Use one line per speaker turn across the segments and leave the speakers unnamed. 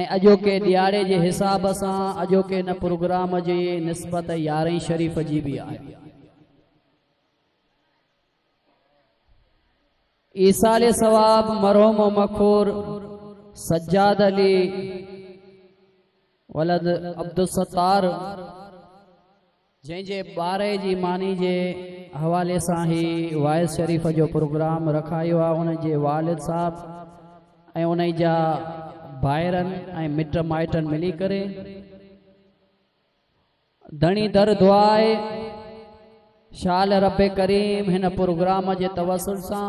۽ اڄوڪي ڏيھاڙي جي حساب سان اڄوڪي ان پروگرام جي نسبت يارھين شريف جي به آھي. ايصال ثواب مرحوم مخور سجاد علي ولد عبدالستار جنهن جي ٻارهي جي ماني جي حوالي سان هي وائس شريف جو پروگرام رکايو آهي ان جي والد صاحب ۽ انهي جا ڀائرن ۽ مٽ مائٽن ملي ڪري ڌڻي در دعائي شال رب ڪريم هن پروگرام جي توسل سان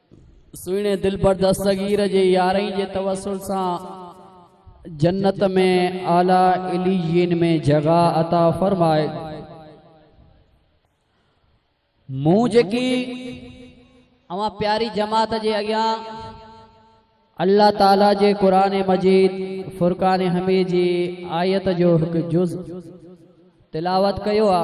سهڻي دلبر دستگير جي يارهين جي توسل سان جنت ۾ اعليٰ عليين ۾ جڳهه عطا فرمائي مون جيڪي اوهان پياري جماعت جي اڳيان الله تعاليٰ جي قرآن مجيد فرقان حميد جي آيت جو هڪ جز تلاوت ڪيو آ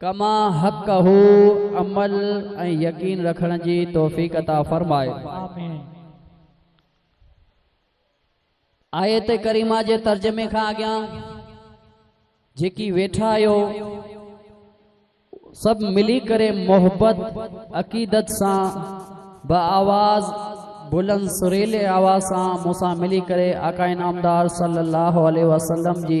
ڪما حقه عمل ۽ يقين رکڻ جي توفيق عطا فرمائي. آيت ڪريمه جي ترجمي کان اڳيان جيڪي ويٺا آهيو سڀ ملي ڪري محبت عقيدت سان با آواز بلند سريلي آواز سان مون سان ملي ڪري آقا انعامدار صلي الله عليه وسلم جي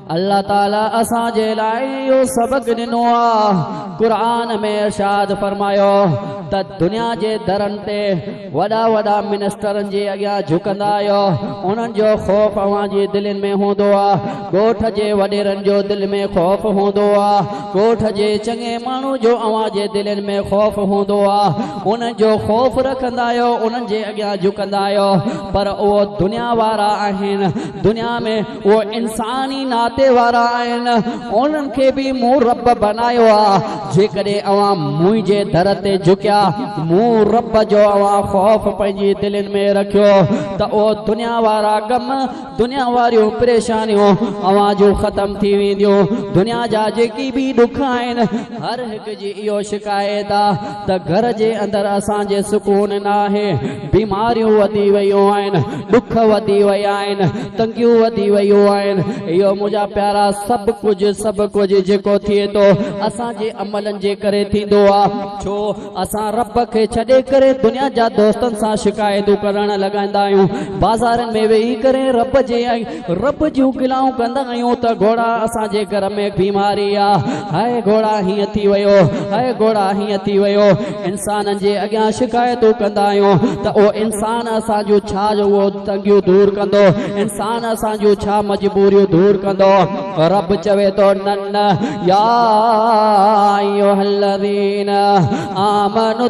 الله تعالي اسان جي لاء اهو سبق ڏنو آ قرآن ۾ ارشاد فرمايو ته دنيا جي درن تي وڏا وڏا منسٽرن جي اڳيان جهڪندا آهيو انهن جو خوف اوهان جي دلين ۾ هوندو آ ڳوٺ جي وڏيرن جو دل ۾ خوف هوندو آ ڳوٺ جي چڱي ماڻهو جو اوهان جي دلين ۾ خوف هوندو آ انهن جو خوف رکندا آهيو انهن جي اڳيان جهڪندا آهيو پر اهو دنيا وارا آهن دنيا ۾ اهي انساني ناتي وارا آهن، انهن کي به مون رب بنايو آ، جيڪڏهن اوهان منهنجي در تي جهڪيا، مون رب جو اوهان خوف پنهنجي دلين ۾ رکيو ته اهي دنيا وارا غم، دنيا واريون پريشانيون اوهان جون ختم ٿي وينديون، دنيا جا جيڪي به ڏک آهن، هر هڪ جي اهو شڪايت آ. ته گهر جي اندر اسان جي سڪون ناهي، بيماريون وڌي ويون آهن، ڏک وڌي ويا آهن، تنگيون وڌي ويون آهن، اهو منهنجا پيارا سڀ ڪجهه سڀ ڪجهه جيڪو ٿئي ٿو اسان جي عملن جي ڪري ٿيندو آ، ڇو اسان رب کي ڇڏي ڪري دنيا جا دوستن سان شڪايتون ڪرڻ لڳندا آهيون، بازارن ۾ ويهي ڪري رب جي ۽. رب جون گلائون ڪندا آهيون ته گهوڙا اسان جي گهر ۾ بيماري آ هائي گهوڙا هيئن ٿي ويو هائي گهوڙا هيئن ٿي ويو انسانن جي اڳيان شڪايتون ڪندا آهيون ته اهو انسان اسان جون ڇا جو اهو تنگيون دور ڪندو انسان اسان جون ڇا مجبوريون دور ڪندو رب چوي ٿو نه نه يا ايها الذين آمنوا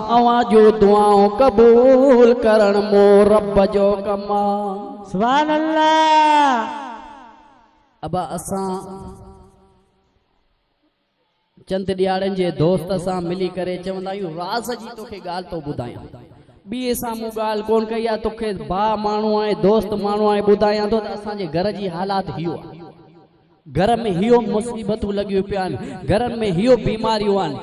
اوهان جون دعائون قبول ڪرڻ مون رب جو ڪم آ. سبحان الله. ابا اسان چند ڏياڙين جي دوست سان ملي ڪري چوندا آهيون راز جي توکي ڳالهه ٿو ٻڌايان ٻئي سان مون ڳالهه ڪون ڪئي آهي توکي ڀاء ماڻهو آهي دوست ماڻهو آهي ٻڌايان ٿو ته اسان جي گهر جي حالات هيو آهي گهر ۾ هيو مصيبتون لڳيون پيان گهر ۾ هيو بيماريون آن.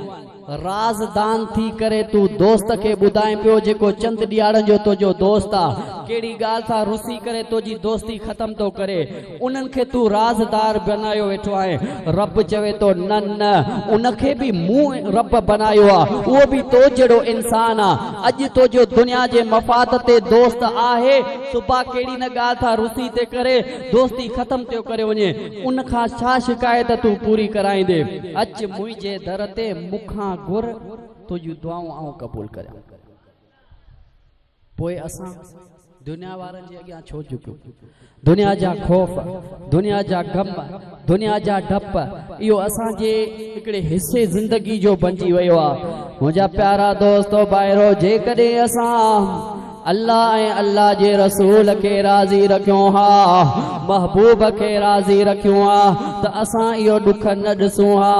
راز دان ٿي ڪري تون دوست کي ٻڌائين پيو جيڪو چند ڏياڙن جو تنهنجو دوست آ ڪهڙي ڳالهه سان رسي ڪري تنهنجي دوستي ختم ٿو ڪري انهن کي تون راز دار بنايو ويٺو آهين رب چوي ٿو نه نه ان کي به مون رب بنايو آ اهو به تو جهڙو انسان آ اڄ تنهنجو دنيا جي مفاد تي دوست آهي صبح ڪهڙي نه ڳالهه ٿا رسي تي ڪري دوستي ختم ٿيو ڪري وڃي ان کان ڇا شڪايت تون پوري ڪرائيندي اچ منهنجي در تي مون کان گهر تنهنجون دعائون آئون قبول ڪريان ٿو پوء اسان دنيا وارن جي اڳيان ڇو جهڪيون دنيا جا خوف دنيا جا غم دنيا جا ڊپ اهو اسان جي هڪڙي حصي زندگي جو بنجي ويو آ منهنجا پيارا دوستو ڀائرو جيڪڏهن اسان الله ۽ الله جي رسول کي راضي رکيون ها محبوب کي راضي رکيون ها ته اسان اهو ڏک نه ڏسون ها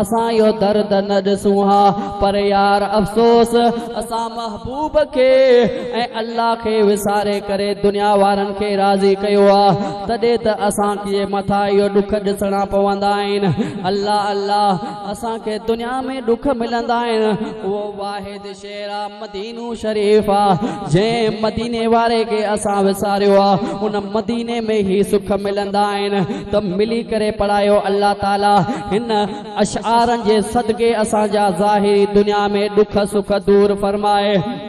اسان اهو درد نه ڏسون ها پر يار افسوس اسان محبوب کي ۽ الله کي وساري ڪري دنيا وارن کي راضي ڪيو آ تڏهن ته اسان کي مٿا اهي ڏک ڏسڻا پوندا آهن. الله الله اسان کي دنيا ۾ ڏک ملندا آهن اهو واحد شهر آ مدينو شريف آ جنهن مديني واري کي اسان وساريو آ ان مديني ۾ هي سک ملندا آهن ته ملي ڪري پڙهايو الله تعالي هن اشعارن جي صدقي اسان جا ظاهري دنيا ۾ ڏک سک دور فرمائي.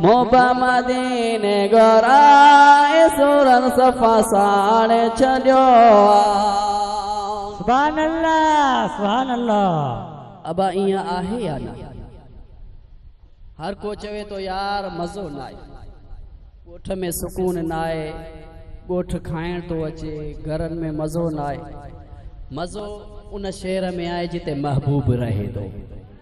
مبا مديني گهرائي سورن صفا ساڙي ڇڏيو آ.
سبحان الله سبحان الله. ابا ايئن آهي
يا نه؟ هر ڪو چوي ٿو يار مزو ناهي، ڳوٺ ۾ سڪون ناهي، ڳوٺ کائڻ ٿو اچي، گهرن ۾ مزو ناهي، مزو ان شهر ۾ آهي جتي محبوب رهي ٿو.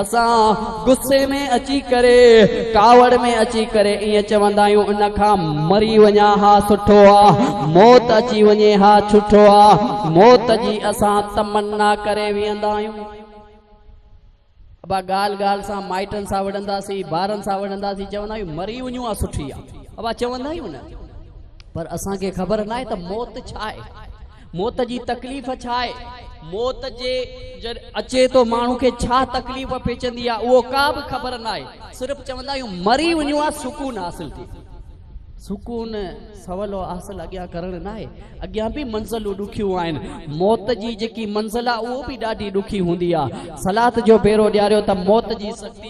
اسان غصي ۾ اچي ڪري، ڪاوڙ ۾ اچي ڪري ائين چوندا آهيون ان کان مري وڃان ها سٺو آ، موت اچي وڃي ها ڇٺو آ، موت جي اسان تمنا ڪري ويهندا آهيون. ابا ڳالهه ڳالهه سان مائٽن سان وڙهنداسين، ٻارن سان وڙهنداسين، چوندا آهيون مري وڃون ها سٺي آ. ابا چوندا آهيون نه پر اسان کي خبر ناهي ته موت ڇا آهي. موت جي تڪليف ڇا آهي؟ موت جي جڏهن اچي ٿو ماڻهو کي ڇا تڪليف پيچندي آهي اهو ڪا به خبر ناهي صرف چوندا آهيون مري وڃون ها سڪون حاصل ٿئي ٿو. سڪون سولو حاصل اڳيان ڪرڻ ناهي اڳيان به منزلون ڏکيون آهن موت جي جيڪي منزل آهي اهو به ڏاڍي ڏکي هوندي آهي صلات جو پيرو ڏياريو ته موت جي سختي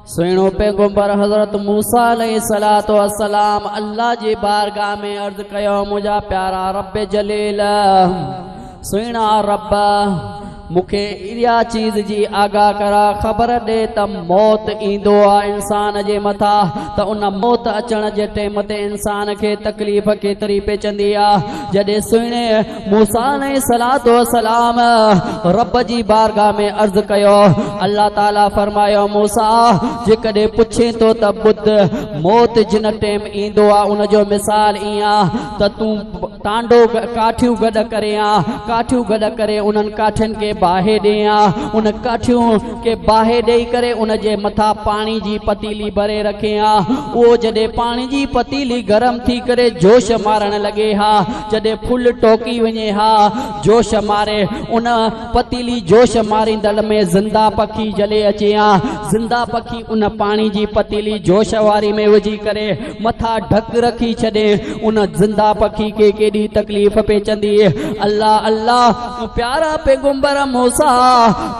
سهڻو پيغمبر حضرت موسيٰ عليه الصلوة والسلام الله جي بارگاهه ۾ عرض ڪيو منهنجا پيارا رب جليل سهڻا رب مون کي اها چيز جي آگاهه ڪر خبر ڏي ته موت ايندو آهي انسان جي مٿا ته ان موت اچڻ جي ٽيم تي انسان کي تڪليف ڪيتري پئجندي آهي جڏهن سهڻي موسيٰ عليه الصلوة والسلام رب جي بارگاھ ۾ عرض ڪيو الله تعالي فرمايو موسيٰ جيڪڏهن پڇين ٿو ته ٻڌ موت جن ٽيم ايندو آ ان جو مثال ائين آ ته تون ٽانڊو ڪاٺيون گڏ ڪري آ ڪاٺيون گڏ ڪري انهن ڪاٺين کي باهي ڏي آ ان ڪاٺيون کي باهي ڏئي ڪري ان جي مٿا پاڻي جي پتيلي ڀري رکي آ اهو جڏهن پاڻي جي پتيلي گرم ٿي ڪري جوش مارڻ لڳي ها جڏهن ڦل ٽوڪي وڃي ها، جوش ماري، ان پتيلي جوش ماريندڙ ۾ زنده پکي جلي اچي ها، زنده پکي ان پاڻي جي پتيلي جوش واري ۾ وجهي ڪري مٿا ڍڪ رکي ڇڏي، ان زنده پکي کي ڪيڏي تڪليف پيچندي. الله الله! پيارا پيغمبر موسيٰ!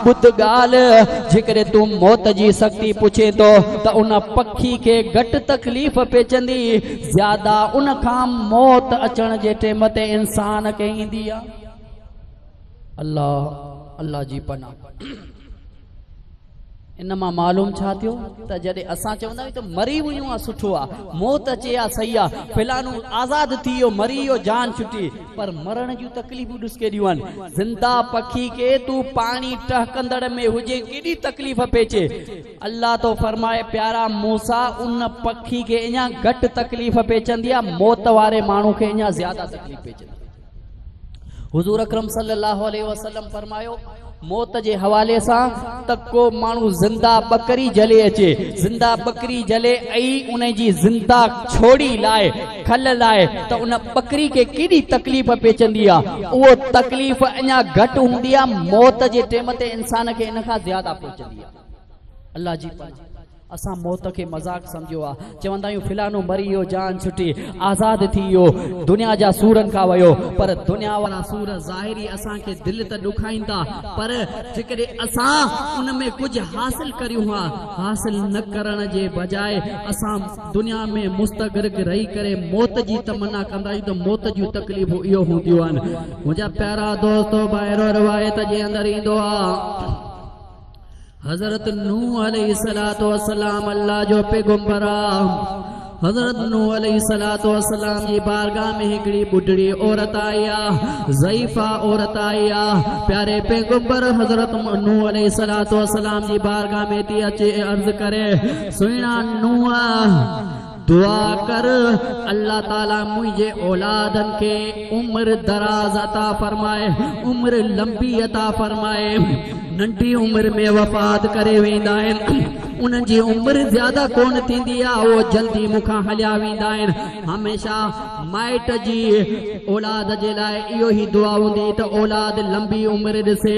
ٻڌ ڳالهه، جيڪڏهن تون موت جي سختي پڇين ٿو ته ان پکي کي گهٽ تڪليف پيچندي، زياده ان کان موت اچڻ جي ٽيم تي انسان کي ايندي آ الله الله جي پناھ ان مان معلوم ڇا ٿيو ته جڏهن اسان چوندا آهيون ته مري ويون آ سٺو آ موت اچي آ صحيح آ فلانو آزاد ٿي ويو مري ويو جان ڇٽي پر مرڻ جون تڪليفون ڏس ڪيڏيون آهن زنده پکي کي تون پاڻي ٽهڪندڙ ۾ هجين ڪيڏي تڪليف پئي اچي الله ٿو فرمائي، پيارا موسيٰ! ان پکي کي اڃا گهٽ تڪليف پيچندي آهي، موت واري ماڻهو کي اڃا زياده تڪليف پيچندي آهي. حضور اڪرم صلي الله عليه وسلم فرمايو، موت جي حوالي سان ته ڪو ماڻهو زنده ٻڪري جهلي اچي، زنده ٻڪري جهلي ۽ ان جي زنده ڇوڙي لاء، کل لاء ته ان ٻڪري کي ڪيڏي تڪليف پيچندي آهي، اهو تڪليف اڃا گهٽ هوندي آهي، موت جي ٽيم تي انسان کي ان کان زياده پيچندي آهي. الله جي پناهه اسان موت کي مذاق سمجهيو آ چوندا آهيون فلانو مري ويو جان ڇٽي آزاد ٿي ويو دنيا جا سورن کان ويو پر دنيا وارا سور ظاهري اسان کي دل ته ڏکائين ٿا پر جيڪڏهن اسان ان ۾ ڪجهه حاصل ڪريون ها حاصل نه ڪرڻ جي بجاء اسان دنيا ۾ مستغرق رهي ڪري موت جي تمنا ڪندا آهيون ته موت جون تڪليفون اهو هونديون آهن منهنجا پيارا دوستو بائرو روايت جي اندر ايندو آ حضرت نوح عليه الصلاه والسلام الله جو پيغمبر حضرت نو عليه الصلاه والسلام جي بارگاھ ۾ هڪڙي ٻڍڙي عورت آئي آ ضعيفا عورت آئي آ پياري پيغمبر حضرت نو عليه الصلاه والسلام جي بارگاھ ۾ تي اچي عرض ڪري سينا نوح دعا ڪر الله تعالي منهنجي اولادن کي عمر دراز عطا فرمائي عمر لنبي عطا فرمائي ننڍي عمر ۾ وفات ڪري ويندا آهن انهن جي عمر زياده ڪونه ٿيندي آهي اهو جلدي مون کان هليا ويندا آهن هميشه مائٽ جي اولاد جي لاء اهو ئي دعا هوندي ته اولاد لنبي عمر ڏسي،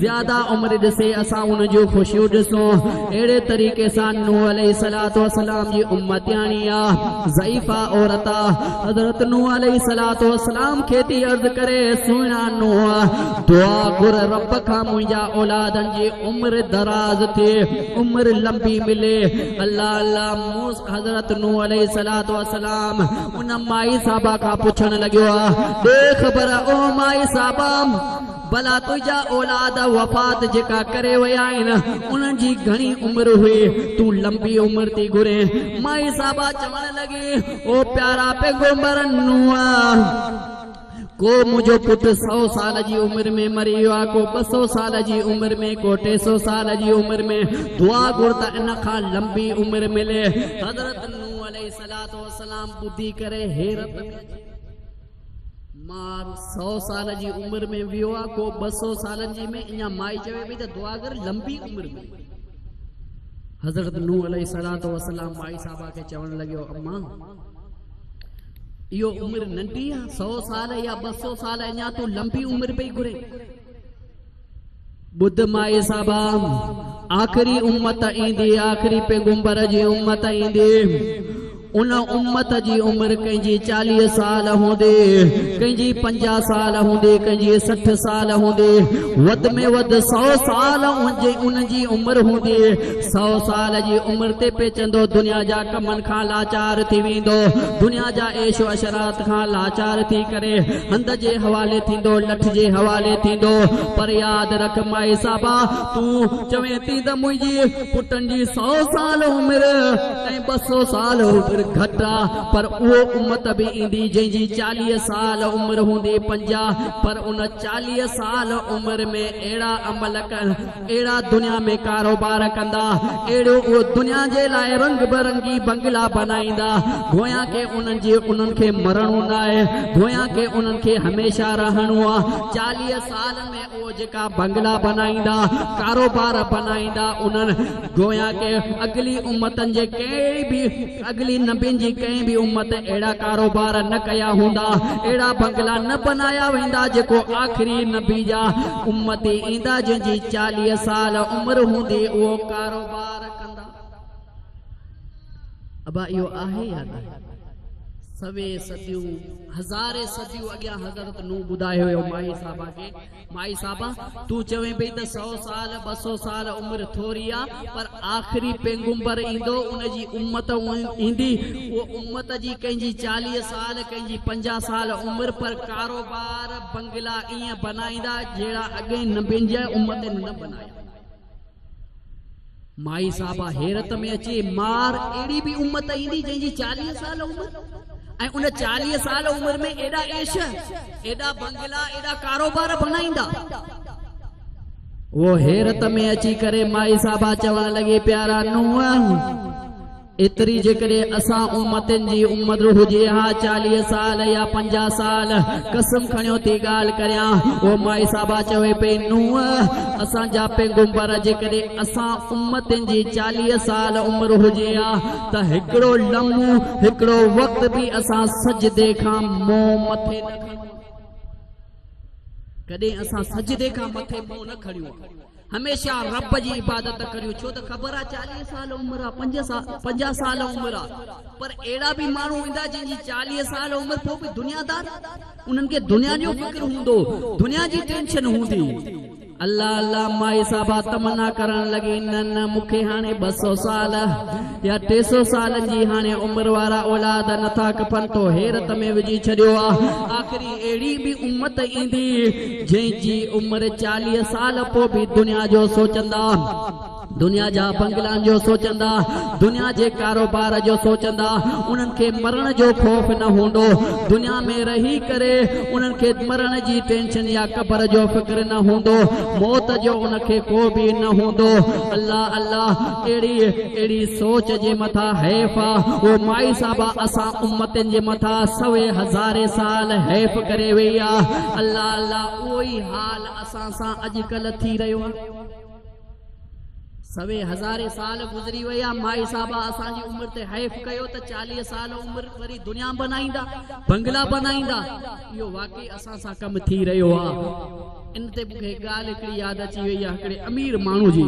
زياده عمر ڏسي، اسان ان جون خوشيون ڏسون. اهڙي طريقي سان نوح عليه السلام جي امتياڻي اها ضعيفه عورت حضرت نوح عليه السلام کي ٿي عرض ڪري، سهڻا نوح! دعا گهر رب کان منهنجا اولادن جي عمر دراز ٿئي، عمر لنبي ملي. الله الله! مون حضرت نوح عليه الصلات والسلام ان مائي صاحبه کان پڇڻ لڳيو آ ڏي خبر او مائي صاحبام بلا تجا اولاد وفات جيڪا ڪري ويا آهن انهن جي گهڻي عمر هئي تو لمبي عمر تي گهري مائي صاحبا چوڻ لڳي او پيارا پيغمبر نوح ڪو منهنجو پٽ سؤ سال جي عمر ۾ مري ويو آهي، ڪو ٻه سؤ سال جي عمر ۾، ڪو ٽي سؤ سال جي عمر ۾، دعا گهر ته ان کان لنبي عمر ملي. حضرت نوح عليه الصلوة والسلام ٻڌي ڪري حيرت ۾ اچي ويو. مار سؤ سال جي عمر ۾ ويو آهي، ڪو ٻه سؤ سالن جي ۾ اڃا مائي چوي پئي ته دعا گهر لنبي عمر ملي. حضرت نوح عليه الصلوة والسلام مائي صاحبه کي چوڻ لڳيو امان! اهو عمر ننڍي آ سئو سال يا ٻه سئو سال اڃا تون لنبي عمر پئي گهرين. ٻڌ مائي صاحبا آخري امت ايندي آخري پيغمبر جي امت ايندي ان امت جي عمر ڪنهن جي چاليهه سال هوندي ڪنهن جي پنجاهه سال هوندي ڪنهن جي سٺ سال هوندي وڌ ۾ وڌ سئو سال ان جي عمر هوندي سؤ سال جي عمر تي پيچندو دنيا جا ڪمن کان لاچار ٿي ويندو دنيا جا عيش و عشرات کان لاچار ٿي ڪري هنڌ جي حوالي ٿيندو لٺ جي حوالي ٿيندو پر ياد رک مائي صاحبا تون چوين ٿي ته منهنجي پٽن جي سؤ سال عمر ۽ ٻه سؤ سال عمر گهٽ آ پر اهو امت به ايندي جنهن جي چاليهه سال عمر هوندي پنجاهه پر ان چاليهه سال عمر ۾ اهڙا عمل ڪن اهڙا دنيا ۾ ڪاروبار ڪندا، اهڙيو اهو دنيا جي لاء رنگ برنگي بنگلا بنائيندا، گويا ڪي انهن جي انهن کي مرڻو ناهي، گويا ڪي انهن کي هميشه رهڻو آ. چاليهه سالن ۾ اهو جيڪا بنگلا بنائيندا، ڪاروبار بنائيندا، انهن گويا ڪي اڳلي امتن جي ڪنهن به. اڳلي نبين جي ڪنهن به امت اهڙا ڪاروبار نه ڪيا هوندا، اهڙا بنگلا نه بنايا ويندا جيڪو آخري نبي جا امتي ايندا جنهن جي چاليهه سال عمر هوندي اهو ڪاروبار ڪندا. ابا اهو آهي يا نه؟ سوين صديون هزارين صديون اڳيان حضرت نوح ٻڌايو هيو مائي صاحبه کي. مائي صاحبه تون چوين پئي ته سئو سال ٻه سئو سال عمر ٿوري آ پر آخري پيغمبر ايندو ان جي امت ايندي اهو امت جي ڪنهن جي چاليهه سال ڪنهن جي پنجاهه سال عمر پر ڪاروبار بنگلا ايئن بنائيندا جهڙا اڳين نبين جي امتن نه بنايا. مائي صاحبه حيرت ۾ اچي مار اهڙي به امت ايندي جنهن جي چاليهه سال عمر ۽ ان چاليهه سال عمر ۾ ايڏا عيش ايڏا بنگلا ايڏا ڪاروبار بنائيندا اهو حيرت ۾ اچي ڪري مائي صاحبه چوڻ لڳي پيارا نوح ايتري جيڪڏهن اسان امتين جي عمر هجي ها چاليهه سال يا پنجاهه سال قسم کڻيو ٿي ڳالهه ڪريان او مائي صاحبه چوي پئي نوح اسان جا پيغمبر جيڪڏهن اسان امتين جي چاليهه سال عمر هجي ها ته هڪڙو لمحو هڪڙو وقت به اسان سجدي کان منهن مٿي نه کڻيون ها ڪڏهن اسان سجدي کان مٿي منهن نه کڻيون ها هميشه رب جي عبادت ڪريو ڇو ته خبر آ چاليهه سال عمر آ پنجاهه سال عمر آ پر اهڙا به ماڻهو هوندا جن جي چاليهه سال عمر پوء به دنيا دار انهن کي دنيا جو فڪر هوندو دنيا جي ٽينشن هوندي الله الله مائي صاحبه تمنا ڪرڻ لڳي نه نه مونکي هاڻي ٻه سؤ سال يا ٽي سئو سالن جي هاڻي عمر وارا اولاد نه ٿا ڪپن تو حيرت ۾ وجهي ڇڏيو آ آخري اهڙي به امت ايندي جنهن جي عمر چاليهه سال پو به دنيا جو سوچندا دنيا جا بنگلان جو سوچندا دنيا جي ڪاروبار جو سوچندا انهن کي مرڻ جو خوف نه هوندو دنيا ۾ رهي ڪري انهن کي مرڻ جي ٽينشن يا قبر جو فڪر نه هوندو موت جو ان کي ڪو به نه هوندو الله الله ڪهڙي اهڙي سوچ جي مٿان حيف آ او مائي صاحبا اسان امتين جي مٿان سوين هزارين سال حيف ڪري ويئي آ الله الله اهو ئي حال اسان سان اڄڪلهه ٿي رهيو آ سوين هزارين سال گذري ويا مائي صاحبا اسان جي عمر تي حيف ڪيو ته چاليهه سال عمر وري دنيا بنائيندا بنگلا بنائيندا اهو واقعي اسان سان ڪم ٿي رهيو آ ان تي مونکي هڪ ڳالهه هڪڙي ياد اچي ويئي آ هڪڙي امير ماڻهو جي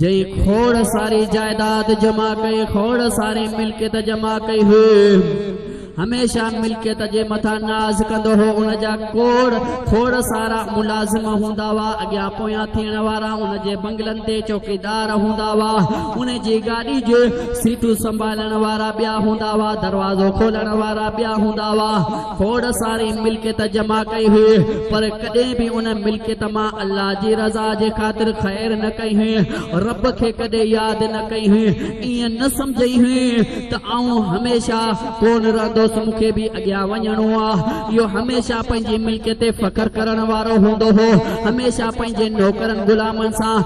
جي کوڙ ساري جائيداد جمع ڪئي، کوڙ ساري ملڪيت جمع ڪئي هئي. هميشه ملڪيت جي مٿان ناز ڪندو هو. ان جا کوڙ کوڙ سارا ملازم هوندا هئا، اڳيان پويان ٿيڻ وارا، ان جي بنگلن تي چوڪيدار هوندا هئا، ان جي گاڏي جي سيٽون سنڀالڻ وارا ٻيا هوندا هئا، دروازو کولڻ وارا ٻيا هوندا هئا. کوڙ ساري ملڪيت جمع ڪئي هئي، پر ڪڏهن به ان ملڪيت مان الله جي رضا جي خاطر خير نه ڪئي هئي، رب کي ڪڏهن ياد نه ڪئي هئي، ائين نه سمجهي هئي ته آئون هميشه ڪونه رهندس، مون کي به اڳيان وڃڻو آ. اهو هميشه پنهنجي ملڪيت تي فخر ڪرڻ وارو هوندو هو، هميشه پنهنجي نوڪرن غلامن سان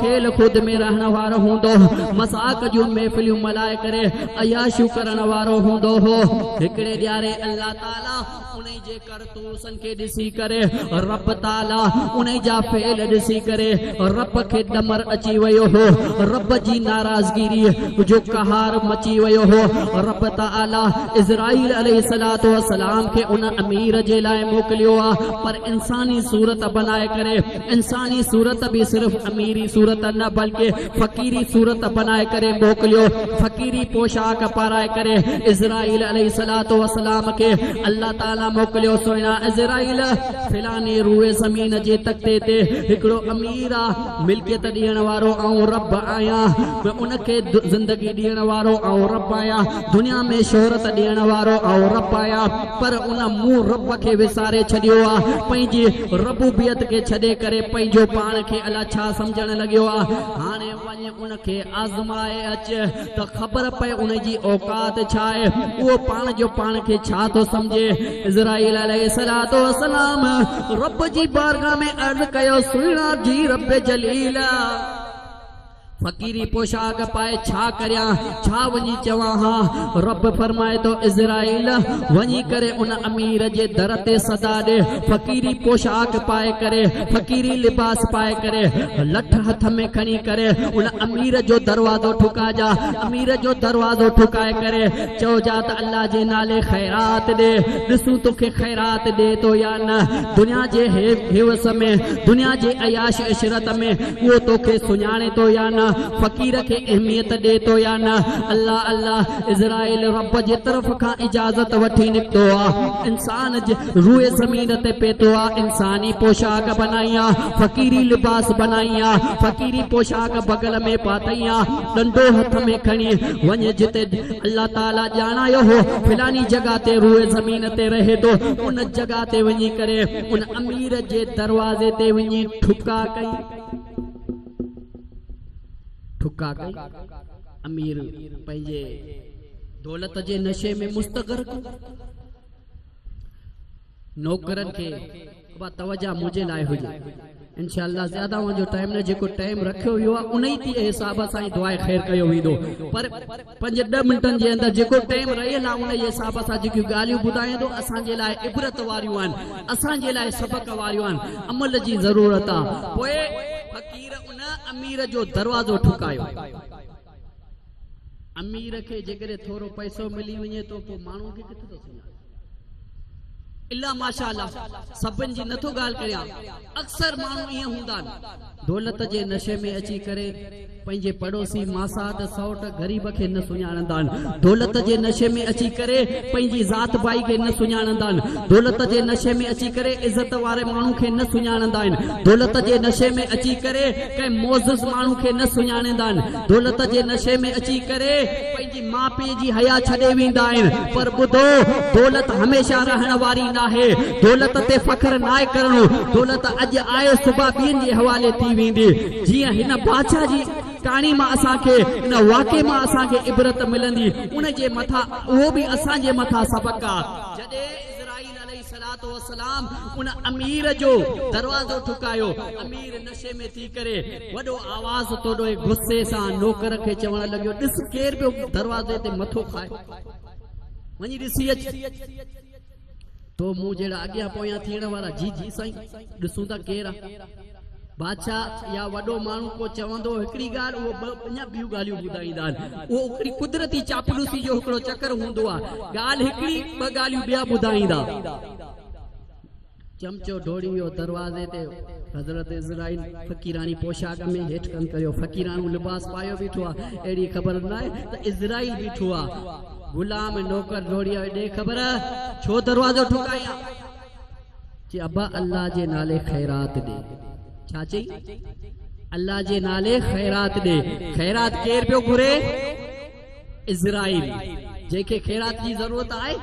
کيل کود ۾ رهڻ وارو هوندو، مذاق جون محفليون ملهائي ڪري، عياشيون ڪرڻ وارو هوندو هو. هڪڙي ڏياري الله تعاليٰ انهي جي ڪرتوسن کي ڏسي ڪري رب تعاليٰ انهي جا فعل ڏسي ڪري رب کي ڏمر اچي ويو هو رب جي ناراضگيري جو قهار مچي ويو هو رب تعاليٰ عزرائيل عليه الصلوة والسلام کي ان امير جي لاء موڪليو آ پر انساني صورت بنائي ڪري انساني صورت به صرف اميري صورت نه بلڪ فقيري صورت بنائي ڪري موڪليو فقيري پوشاڪ پارائي ڪري عزرائيل عليه الصلوة والسلام کي الله تعالي موڪليو سوئنا عزرائيل فلاني روئي زمين جي تختي تي هڪڙو امير آ ملڪيت ڏيڻ وارو آئون رب آهيان ۾ ان کي زندگي ڏيڻ وارو آئون رب آهيان دنيا ۾ شهرت ڏيڻ وارو آئون رب آهيان پر ان مون رب کي وساري ڇڏيو آ پنهنجي ربوبيت کي ڇڏي ڪري پنهنجو پاڻ کي الا ڇا سمجهڻ لڳيو آ هاڻي وڃ ان کي آزمائي اچ ته خبر پئي ان جي اوقات ڇا آهي اهو پاڻ جو پاڻ کي ڇا ٿو سمجهي اسرائيل عليه الصلات والسلام رب جي بارگاھ ۾ عرض ڪيو سهڻا جي رب جليل فقيري پوشاڪ پائي ڇا ڪريان؟ ڇا وڃي چوان ها؟ رب فرمائي ٿو، عزرائيل! وڃي ڪري ان امير جي در تي صدا ڏي، فقيري پوشاڪ پائي ڪري، فقيري لباس پائي ڪري، لٺ هٿ ۾ کڻي ڪري ان امير جو دروازو ٺڪاجان، امير جو دروازو ٺڪائي ڪري چئجان ته الله جي نالي خيرات ڏي، ڏسون توکي خيرات ڏئي ٿو يا نه؟ دنيا جي هيوس ۾، دنيا جي عياش عشرت ۾. اهو توکي سڃاڻي ٿو يا نه؟ فقير کي اهميت ڏي ٿو يا نه؟ الله الله! عزرائيل رب جي طرف کان اجازت وٺي نڪتو آ. انسان جي روء زمين تي پيتو آ. انساني پوشاڪ بنائين آ. فقيري لباس بنائين آ. فقيري پوشاڪ بغل ۾ پاتئين آ. ڏنڊو هٿ ۾ کڻي، وڃ جتي الله تعاليٰ ڄاڻايو هو، فلاني جڳهه تي روء زمين تي رهي ٿو، ان جڳهه تي وڃي ڪري. ان امير جي دروازي تي وڃي ٺڪاء ڪئي. ٺڪاء ڪئي. امير پنهنجي دولت جي نشي ۾ مستغرق نوڪرن کي توجه منهنجي لاء هجي انشاء الله زياده اوهان جو ٽائيم نه جيڪو ٽائيم رکيو ويو آهي انهي تي حساب سان دعاء خير ڪيو ويندو پر پنج ڏهه منٽن جي اندر جيڪو ٽائيم رهيل آهي انهي حساب سان جيڪي ڳالهيون ٻڌايان ٿو اسان جي لاء عبرت واريون آهن اسان جي لاء سبق واريون آهن عمل جي ضرورت آهي پوء فقير ان امير جو دروازو ٺڪايو امير کي جيڪڏهن ٿورو پئسو ملي وڃي ٿو پوء ماڻهو کي ڪٿي ٿو سڃاڻي الا ماشاء الله سڀن جي نٿو ڳالهه ڪريان اڪثر ماڻهو ائين هوندا آهن دولت جي نشي ۾ اچي ڪري پنهنجي پڙوسي ماسات سئوٽ غريب کي نه سڃاڻندا آهن دولت جي نشي ۾ اچي ڪري پنهنجي ذات ڀائي کي نه سڃاڻندا آهن دولت جي نشي ۾ اچي ڪري عزت واري ماڻهو کي نه سڃاڻندا آهن دولت جي نشي ۾ اچي ڪري ڪنهن معزز ماڻهو کي نه سڃاڻندا آهن دولت جي نشي ۾ اچي ڪري ماء پيء جي حيا ڇڏي ويندا آهن پر ٻڌو دولت هميشه رهڻ واري ناهي دولت تي فخر ناهي ڪرڻو دولت اڄ آهي صبح ٻين جي حوالي ٿي ويندي جيئن هن بادشاهه جي ڪهاڻي مان اسان کي ان واقعي مان اسان کي عبرت ملندي ان جي مٿان اهو به اسان جي مٿان سبق آهي جڏهن عليه الصلوة والسلام ان امير جو دروازو ٺڪايو، امير نشي ۾ ٿي ڪري وڏو آواز توڏوي غصي سان نوڪر کي چوڻ لڳيو، ڏس ڪير پيو دروازي تي مٿو کائي، وڃي ڏسي اچ، تو مون جهڙا اڳيان پويان ٿيڻ وارا جي جي سائين، ڏسون ٿا ڪير آ. بادشاهه يا وڏو ماڻهو ڪو چوندو هڪڙي ڳالهه اهو ٻه اڃا ٻيون ڳالهيون ٻڌائيندا آهن. اهو هڪڙي قدرتي چاپلوسي جو هڪڙو چڪر هوندو آهي. ڳالهه هڪڙي، ٻه ڳالهيون ٻيا ٻڌائيندا. چمچو ڊوڙي ويو دروازي تي حضرت عزرائيل فقيراڻي پوشاڪ ۾ هيٺ ڪن ڪريو فقيراڻو لباس پايو بيٺو آهي. اهڙي خبر نه آهي ته عزرائيل بيٺو آهي. غلام نوڪر ڊوڙي آيو ڏي خبر ڇو دروازو ٺڪائين آ. چي ابا الله جي نالي خيرات ڏي. ڇا چئي؟ الله جي نالي خيرات ڏي. خيرات ڪير پيو گهري؟ اسرائيل. جنهن کي خيرات جي ضرورت آهي.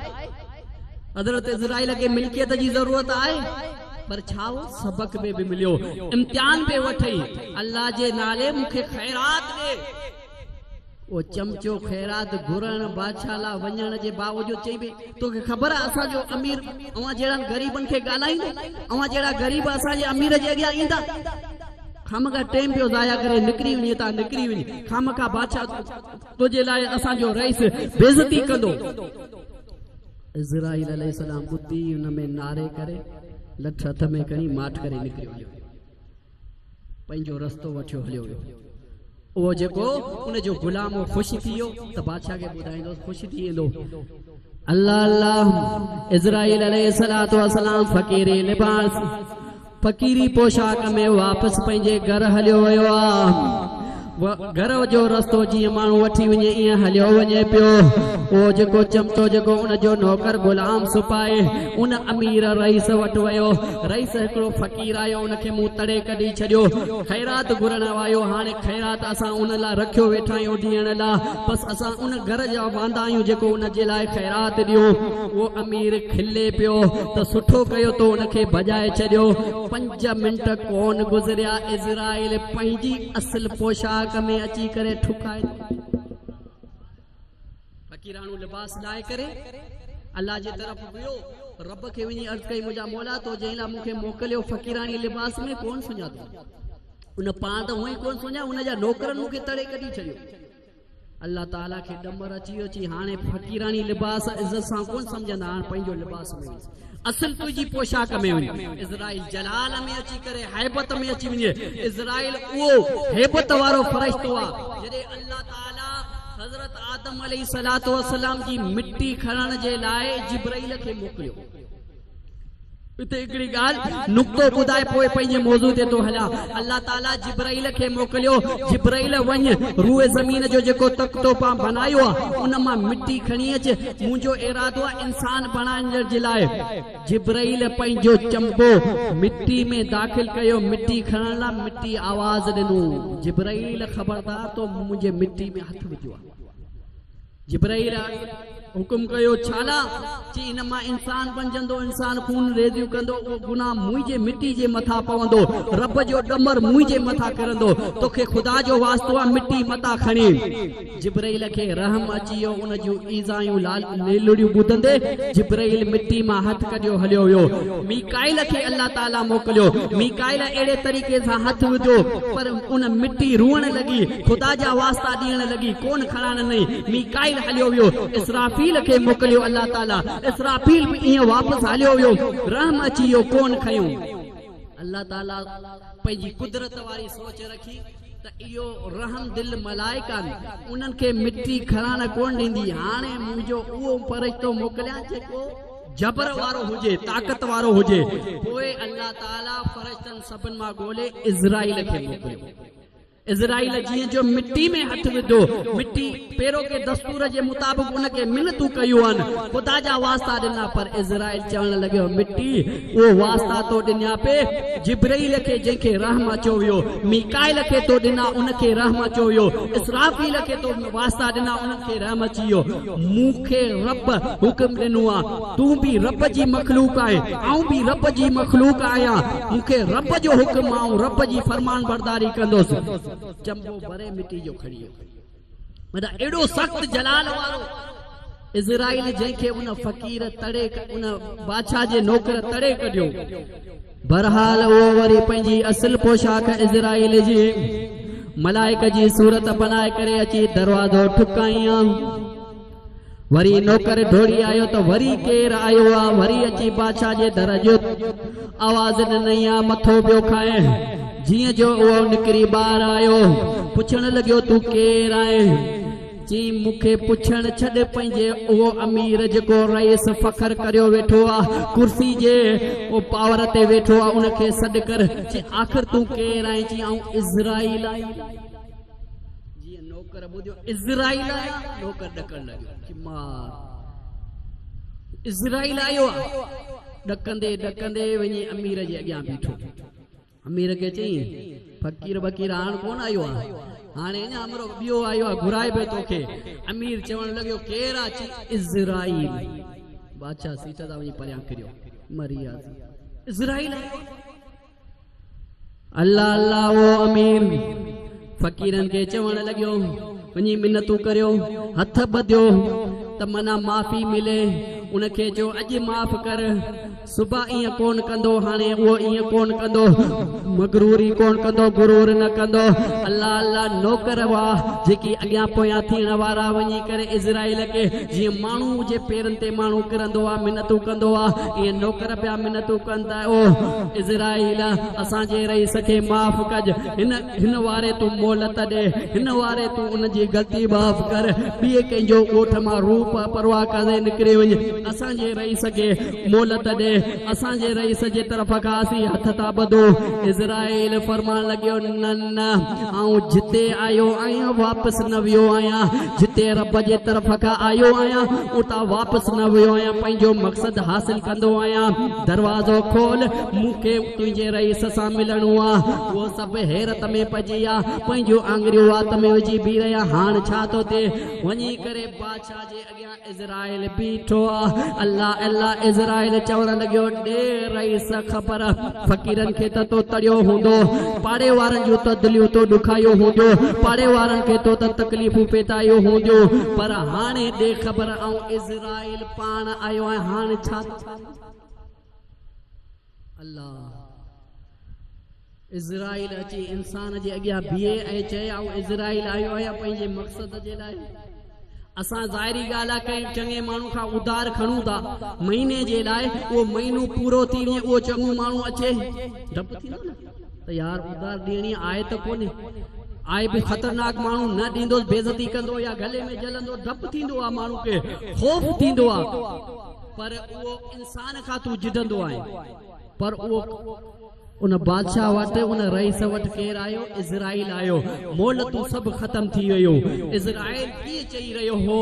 حضرت اسرائيل کي ملڪيت جي ضرورت آهي. پر ڇا هو سبق ۾ به مليو. امتحان به وٺئي. الله جي نالي مون کي خيرات ڏي. اهو چمچو خيرات گهرڻ بادشاهه لا وڃڻ جي باوجود چئي پئي، تو کي خبر آهي اسان جو امير اوهان جهڙن غريبن کي ڳالهائيندو؟ اوهان جهڙا غريب اسان جي امير جي اڳيان ايندا؟ خامخواه ٽيم پيو ضايع ڪرين، نڪري وڃ هتان نڪري وڃ، خامخواه بادشاهه تنهنجي لاء اسان جو رئيس بيعزتي ڪندو. عزرائيل عليه السلام ٻڌي ان ۾ نعري ڪري لٺ هٿ ۾ کڻي ماٺ ڪري نڪري ويو. پنهنجو رستو وٺيو هليو ويو. اهو جيڪو ان جو غلام هو خوش ٿي ويو ته بادشاهه کي ٻڌائيندوس خوش ٿي ويندو. الله الله عزرائيل عليه الصلوة والسلام فقيري لباس، فقيري پوشاڪ ۾ واپس پنهنجي گهر هليو ويو آ. گهر جو رستو جيئن ماڻهو وٺي وڃي ايئن هليو وڃي پيو. اهو جيڪو چمچو جيڪو ان جو نوڪر غلام سپاهي ان امير رئيس وٽ ويو. رئيس هڪڙو فقير آيو ان کي مون تڙي ڪڍي ڇڏيو. خيرات گهرڻ آيو هاڻي خيرات اسان ان لاء رکيو ويٺا آهيون ڏيڻ لاء. بس اسان ان گهر جا واندا آهيون جيڪو ان جي لاء خيرات ڏيون. اهو امير کلي پيو ته سٺو ڪيو تو ان کي ڀڄائي ڇڏيو. پنج منٽ ڪونه گذريا عزرائيل پنهنجي. اصل پوشاڪ ۾ اچي ڪري ٺڪائي ٿو فقيراڻو لباس لاهي ڪري الله جي طرف ويو رب کي وڃي عرض ڪئي منهنجا مولا تو جنهن لاء مونکي موڪليو فقيراڻي لباس ۾ ڪون سڃاتو ان پاڻ ته هونئي ڪون سڃا ان جا نوڪرن مونکي تڙي ڪڍي ڇڏيو الله تعاليٰ کي ڏمر اچي ويو، چي هاڻي فقيراڻي لباس عزت سان ڪونه سمجهندا، هاڻ پنهنجو لباس ۾ وڃ، اصل تنهنجي پوشاڪ ۾ وڃ، عزرائيل جلال ۾ اچي ڪري هيبت ۾ اچي وڃي، عزرائيل اهو هيبت وارو فرشتو آ، جڏهن الله تعاليٰ حضرت آدم عليه السلام جي مٽي کڻڻ جي لاء جبرئيل کي موڪليو. اتي هڪڙي ڳالهه، نقطو، ٻڌائي پوء پنهنجي موضوع تي ٿو هلان. الله تعاليٰ جبرئيل کي موڪليو، جبرئيل وڃ روء زمين جو جيڪو تخت تو پان بنايو آ، ان مان مٽي کڻي اچ، منهنجو ارادو آ انسان بڻائڻ جي لاء. جبرئيل پنهنجو چنبو مٽي ۾ داخل ڪيو، مٽي کڻڻ لاء مٽي آواز ڏنو، جبرئيل خبردار تو منهنجي مٽي ۾ هٿ وڌو آ. جبرئيل حڪم ڪيو، ڇالاء؟ چي، ان مان انسان بنجندو، انسان خون ريزيون ڪندو، اهو گناهه منهنجي مٽي جي مٿان پوندو، رب جو ڏمر منهنجي مٿان ڪرندو، توکي خدا جو واسطو آ، مٽي متان کڻي. جبرئيل کي رحم اچي ويو، ان جون ايذائيون ليلڙيون ٻڌندي، جبرئيل مٽي مان هٿ ڪڍيو هليو ويو. ميڪائيل کي الله تعاليٰ موڪليو، ميڪائيل اهڙي طريقي سان هٿ وڌو، پر ان مٽي روئڻ لڳي. خدا جا واسطا ڏيڻ لڳي، ڪون کڻائڻ نئين، ميڪائيل هليو ويو، اسرافيل کي موڪليو الله تعاليٰ، اسرافيل به ايئن واپس هليو ويو، رحم اچي ويو، ڪون کنيو. الله تعاليٰ پنهنجي قدرت واري سوچ رکي ته اهو رحم دل ملائڪ آهن، انهن کي مٽي کڻڻ ڪون ڏيندي، هاڻي منهنجو اهو فرشتو موڪليان جيڪو جبر وارو هجي، طاقت وارو هجي، پوء الله تعاليٰ فرشتن سڀن مان ڳولي عزرائيل کي موڪليو. اسرائيل جيئن جو مٽي ۾ هٿ وڌو، مٽي پيرو ڪي دستور جي مطابق ان کي منتون ڪيون، خدا جا واسطا ڏنا، پر اسرائيل چوڻ لڳيو، مٽي اهو واسطا تو ڏنيا پي، جبرئيل کي جنهن کي رحم اچيو ويو، ميڪائيل کي تو ڏنا، ان کي رحم اچيو ويو، اسرافيل کي تو واسطا ڏنا، انهن کي رحم اچي ويو، مون کي رب حڪم ڏنو آ. تون به رب جي مخلوق آهين، آئون به رب جي مخلوق آهيان، مون کي رب جو حڪم آئون رب جي فرمانبرداري ڪندس. چنبو بري مٽي جو کڻي ايو. معنيٰ اهڙو سخت جلال وارو عزرائيل جنهن کي ان فقير تڙي ان بادشاهه جي نوڪر تڙي ڪڍيو. بهرحال اهو وري پنهنجي اصل پوشاڪ عزرائيل جي ملائڪ جي صورت بنائي ڪري اچي دروازو ٺڪائين. وري نوڪر ڊوڙي آيو ته وري ڪير آيو آ وري اچي بادشاهه جي در جو آواز ڏنئي آ مٿو پيو کائين جيئن جو اهو نڪري ٻاهر آيو پڇڻ لڳيو تون ڪير آهين چي مون کي پڇڻ ڇڏ پنهنجي اهو امير جيڪو رئيس فخر ڪريو ويٺو آ ڪرسي جي او پاور تي ويٺو آ ان کي سڏ ڪر چي آخر تون ڪير آهين چي آئون اسرائيل آهيان جيئن نوڪر ٻڌيو اسرائيل آيا نوڪر ڏڪڻ لڳو چي مار اسرائيل آيو آ ڏڪندي ڏڪندي وڃي امير جي اڳيان بيٺو امير کي چئين فقير بقير هاڻ ڪون آيو آ هاڻي اڃا امرو ٻيو آيو آ گهرائي به توکي امير چوڻ لڳو ڪير آ چي اسرائيل بادشاهه سيٽ تان وڃي پريان ڪريو مري آ اسرائيل آيو الله الله اهو امير فقيرن کي چوڻ لڳيو، وڃي منتون ڪريو، هٿ ٻڌيو ته منا معافي ملي، ان کي چئو اڄ معاف ڪر، صبح ائين ڪونه ڪندو، هاڻي اهو ائين ڪونه ڪندو، مغروري ڪونه ڪندو، غرور نه ڪندو. الله الله نوڪر هئا جيڪي اڳيان پويان ٿيڻ وارا وڃي ڪري اسرائيل کي جيئن ماڻهو جي پيرن تي ماڻهو ڪرندو آ، منتون ڪندو آ، ائين نوڪر پيا منتون ڪن ته. اوه عزرائيل! اسان جي رئيس کي معاف ڪج. هن هن واري تون مهلت ڏي. هن واري تون ان جي غلطي معاف ڪر. ٻئي ڪنهن جو ڳوٺ مان روح پ پرواهه ڪندي نڪري وڃي. اسان جي رئيس کي مهلت ڏي. اسان جي رئيس جي طرف کان اسين هٿ ٿا ٻڌون. عزرائيل فرمان لڳيو، نه! نه، آئون جتي آيو آهيان واپس نه ويو آهيان، جتي رب جي طرف کان آيو آهيان اتان واپس نه ويو آهيان، پنهنجو مقصد حاصل ڪندو آهيان، دروازو کول، مون کي تنهنجي رئيس سان ملڻو آ. اهو سڀ حيرت ۾ پئجي ويا، پنهنجون آڱريون وات ۾ وجهي بيهي رهيا، هاڻ ڇا ٿو ٿئي؟ وڃي ڪري بادشاهه جي. اڳيان عزرائيل بيٺو آ. الله الله عزرائيل چوڻ لڳيو، ڏي رئيس خبر فقيرن کي ته تو تڙيو هوندو، پاڙي وارن جون ته دليون تو ڏکايو هونديون، پاڙي وارن کي تو ته تڪليفون پيٽايو هونديون، پر هاڻي ڏي خبر آئون عزرائيل پاڻ آيو آهيان هاڻ ڇا ٿو ڪرين؟ الله عزرائيل اچي انسان جي اڳيان بيهي ۽ چئي آئون عزرائيل آيو آهيان پنهنجي مقصد جي لاء اسان ظاهري ڳالهه آهي ڪنهن چڱي ماڻهو کان اڌار کڻون ٿا مهيني جي لاء اهو مهينو پورو ٿي وڃي اهو چڱو ماڻهو اچي ڊپ ٿيندو نه ته يار ادار ڏيڻي آهي ته ڪونهي. آء به خطرناڪ ماڻهو نه ڏيندس بيعزتي ڪندو يا گلي ۾ جلندو ڊپ ٿيندو آ ماڻهو کي خوف ٿيندو آ پر اهو انسان کان تون جدندو آهين پر اهو ان بادشاهه وٽ ان رئيس وٽ ڪير آيو اسرائيل آيو مولتون سڀ ختم ٿي ويون اسرائيل ڪيئن چئي رهيو هو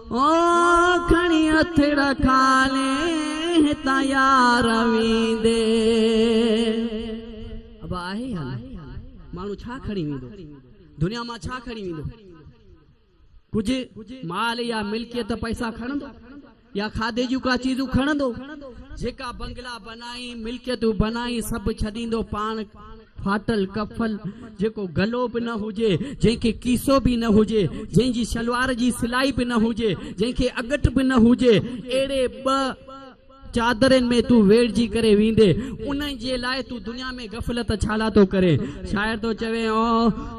او کڻي اٿڙ کالي هتان يار ويندي. ابا آهي ئي هان ماڻهو ڇا کڻي ويندو. دنيا مان ڇا کڻي ويندو. ڪجهه مال يا ملڪيت پئسا کڻندو يا کاڌي جون ڪا چيزون کڻندو. جيڪا بنگلا بنائين ملڪيتون بنائين سڀ ڇڏيندو پاڻ. ڦاٽل ڪفن، جيڪو گلو به نه هجي، جنهن کي ڪيسو به نه هجي، جنهن جي شلوار جي سلائي به نه هجي، جنهن کي اڳٽ به نه هجي، اهڙي ٻه چادرين ۾ تون ويڙهجي ڪري ويندين، انهن جي لاء تون دنيا ۾ غفلت ڇالاء ٿو ڪرين؟ شاعر ٿو چوي، او!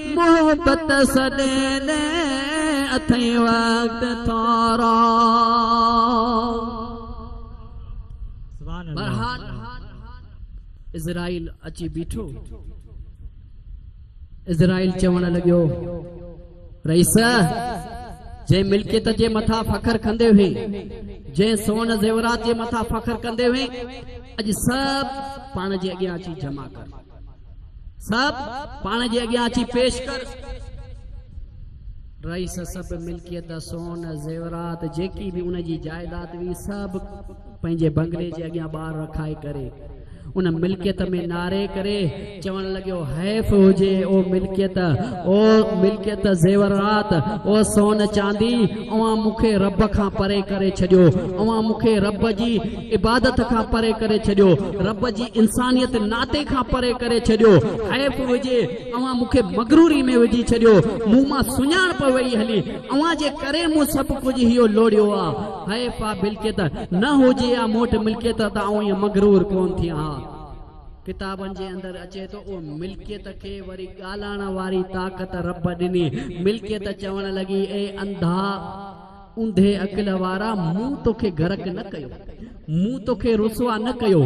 محبت سڏين اٿئي وقت ٿورو. برحال عزرائيل اچي بيٺو. عزرائيل چوڻ لڳيو، رئيس! جنهن ملڪيت جي مٿان فخر ڪندي هئين، جنهن سون زيورات جي مٿان فخر ڪندي هئين، اڄ سڀ پاڻ جي اڳيان اچي جمع ڪر. صاحب پاڻ جي اڳيان اچي پيش ڪر. رئيس سڀ ملڪيت جا سون زيورات جيڪي به ان جي جائداد هئي سڀ پنهنجي بنگلي جي اڳيان ٻاهر رکائي ڪري ان ملڪيت ۾ ناري ڪري چوڻ لڳيو حيف هجي او ملڪيت او ملڪيت زيورات او سون چاندي اوهان مون کي رب کان پري ڪري ڇڏيو اوهان مون کي رب جي عبادت کان پري ڪري ڇڏيو رب جي انسانيت ناتي کان پري ڪري ڇڏيو حيف هجي اوهان مون کي مغروري ۾ وجهي ڇڏيو مون مان سڃاڻپ وئي هلي اوهان جي ڪري مون سڀ ڪجهه هيو لوڙهيو آ حيف آ بلڪيت نه هجي ها مون وٽ ملڪيت ته آئون ائين مغرور ڪون ٿيان ها. ڪتابن جي اندر اچي ٿو اهو ملڪيت کي وري ڳالهائڻ واري طاقت رب ڏني ملڪيت چوڻ لڳي اي انڌا! اوندهي عقل وارا مون توکي غرق نه ڪيو مون توکي رسوا نه ڪيو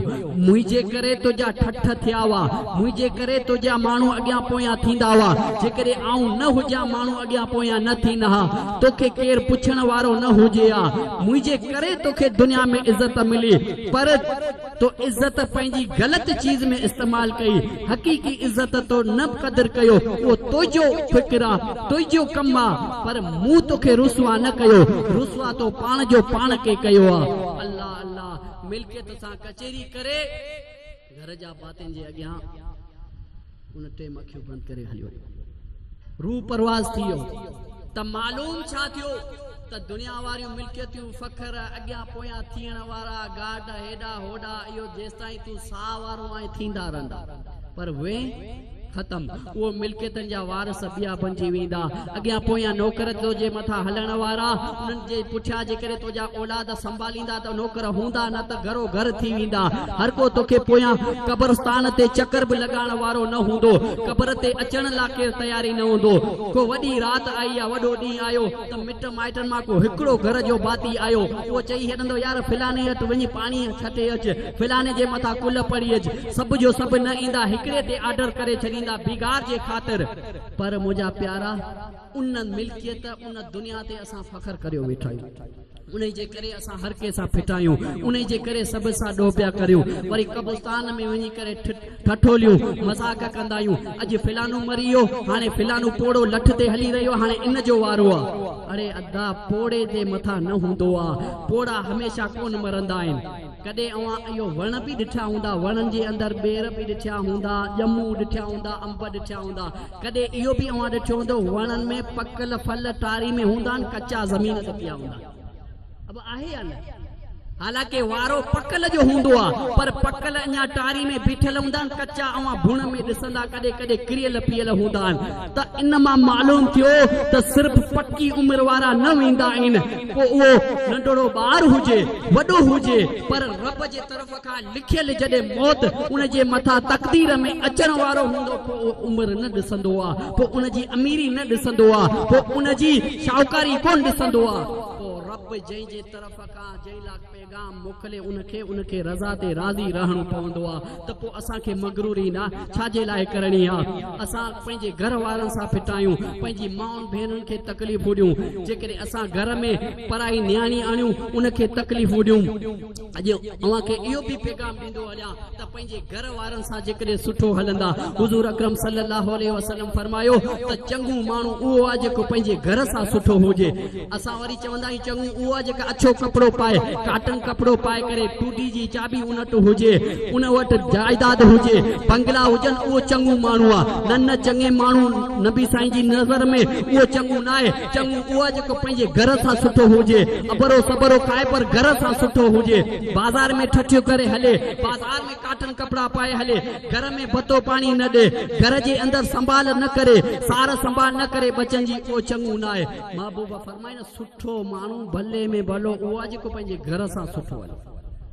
منهنجي ڪري تنهنجا ٺٺ ٿيا هئا منهنجي ڪري تنهنجا ماڻهو اڳيان پويان ٿيندا هئا جيڪڏهن آئون نه هجان ماڻهو اڳيان پويان نه ٿين ها توکي ڪير پڇڻ وارو نه هجي ها منهنجي ڪري توکي دنيا ۾ عزت ملي پر تو عزت پنهنجي غلط چيز ۾ استعمال ڪئي، حقيقي عزت تو نه به قدر ڪيو، اهو تنهنجو فڪر آ، تنهنجو ڪم آ، پر مون توکي رسوا نه ڪيو، رسوا تو پاڻ جو پاڻ کي ڪيو آ. الله الله ملڪيت سان ڪچهري ڪري گهر جا ڀاتين جي اڳيان. ان ٽيم اکيون بند ڪري هليو. روح پرواز ٿي ويو ته معلوم ڇا ٿيو ته دنيا واريون ملڪيتيون، فخر، اڳيان پويان ٿيڻ وارا گارڊ هيڏا هوڏا اهو جيستائين تون ساهه وارو آهين ٿيندا رهندا پر وين ختم اهو ملڪيتن جا وارث ٻيا بنجي ويندا. اڳيان پويان نوڪر توجي مٿان هلڻ وارا، انهن جي پٺيان جيڪڏهن توجا اولاد سنڀاليندا ته نوڪر هوندا نه ته گهرو گهر ٿي ويندا. هر ڪو توکي پويان قبرستان تي چڪر به لڳائڻ وارو نه هوندو. قبر تي اچڻ لا ڪير تيار ئي نه هوندو. ڪو وڏي رات آئي يا وڏو ڏينهن آيو ته مٽ مائٽن مان ڪو هڪڙو گهر جو ڀاتي آيو اهو چئي هڏندو يار فلاني اٽ وڃي پاڻي ڇٽي اچ، فلاني جي مٿان ڪلهه پڙهي اچ. سڀ جو سڀ نه ايندا هڪڙي تي آرڊر ڪري ڇڏيندا بيگار جي خاطر. پر منهنجا پيارا ان ملڪيت ان دنيا تي اسان فخر ڪريو ويٺا آهيون انهي جي ڪري اسان هر ڪنهن سان ڦٽا آهيون انهي جي ڪري سڀ سان ڏوهه پيا ڪريون وري قبرستان ۾ وڃي ڪري ٺٺوليون مذاق ڪندا آهيون اڄ فلانو مري ويو هاڻي فلانو پوڙهو لٺ تي هلي رهيو هاڻي ان جو وارو آ اڙي ادا پوڙهي تي مٿا نه هوندو آ پوڙها هميشه ڪونه مرندا آهن. ڪڏهن اوهان اهو وڻ به ڏٺا هوندا، وڻن جي اندر ٻير به ڏٺا هوندا، ڄمون ڏٺا هوندا، انب ڏٺا هوندا. ڪڏهن اهو به اوهان ڏٺو هوندو، وڻن ۾ پڪل ڦل ٽاري ۾ هوندا آهن، ڪچا زمين تي پيا هوندا آهن. ابا آهي يا نه؟ حالانڪه وارو پڪل جو هوندو آهي، پر پڪل اڃا ٽاري ۾ بيٺل هوندا آهن، ڪچا اوهان ڀڻ ۾ ڏسندا ڪڏهن ڪڏهن ڪريل پيل هوندا آهن. ته ان مان معلوم ٿيو ته صرف پڪي عمر وارا نه ويندا آهن پوء اهو ننڍڙو ٻار هجي وڏو هجي پر رب جي طرف کان لکيل جڏهن موت ان جي مٿان تقدير ۾ اچڻ وارو هوندو پوء اهو عمر نه ڏسندو آ پوء ان جي اميري نه ڏسندو آ پوء ان جي شاهوڪاري ڪونه ڏسندو آ پوء رب جنهن جي طرف کان جنهن لاء پيغام موڪلي ان کي ان کي رضا تي راضي رهڻو پوندو آ ته پو اسان کي مغروري نه ڇا جي لاء ڪرڻي آ اسان پنهنجي گهر وارن سان ڦٽايون پنهنجي مائن ڀينرن کي تڪليفون ڏيون جيڪڏهن اسان گهر ۾ پرائي نياڻي آڻيون ان کي تڪليفون ڏيون اڄ اوهان کي اهو به پيغام ڪندو هليان ته پنهنجي گهر وارن سان جيڪڏهن سٺو هلندا. حضور اڪرم صلي الله عليه وسلم فرمايو ته چڱو ماڻهو اهو آهي جيڪو پنهنجي گهر سان سٺو هجي. اسان وري چوندا آهيون چڱو اهو آهي جيڪو اڇو ڪپڙو پائي، ڪاٽن ڪپڙو پائي ڪري، ٽوڊي جي چاٻي ان وٽ هجي، ان وٽ جائداد هجي، بنگلا هجن اهو چڱو ماڻهو آهي. نه نه چڱي ماڻهو نبي سائين جي نظر ۾ اهو چڱو ناهي. چڱو اهو جيڪو پنهنجي گهر سان سٺو هجي، اڀرو سڀرو کائي پر گهر سان سٺو هجي، بازار ۾ ٺٺيون ڪري هلي، بازار ۾ ڪاٽن ڪپڙا پائي هلي، گهر ۾ ڀتو پاڻي نه ڏئي، گهر جي اندر سنڀال نه ڪري، سار سنڀال نه ڪري ٻچن جي، اهو چڱو ناهي. محبوبا فرمائي نه سٺو ماڻهو ڀلي ۾ ڀلو اهو آهي جيڪو پنهنجي گهر سان سٺو هلي.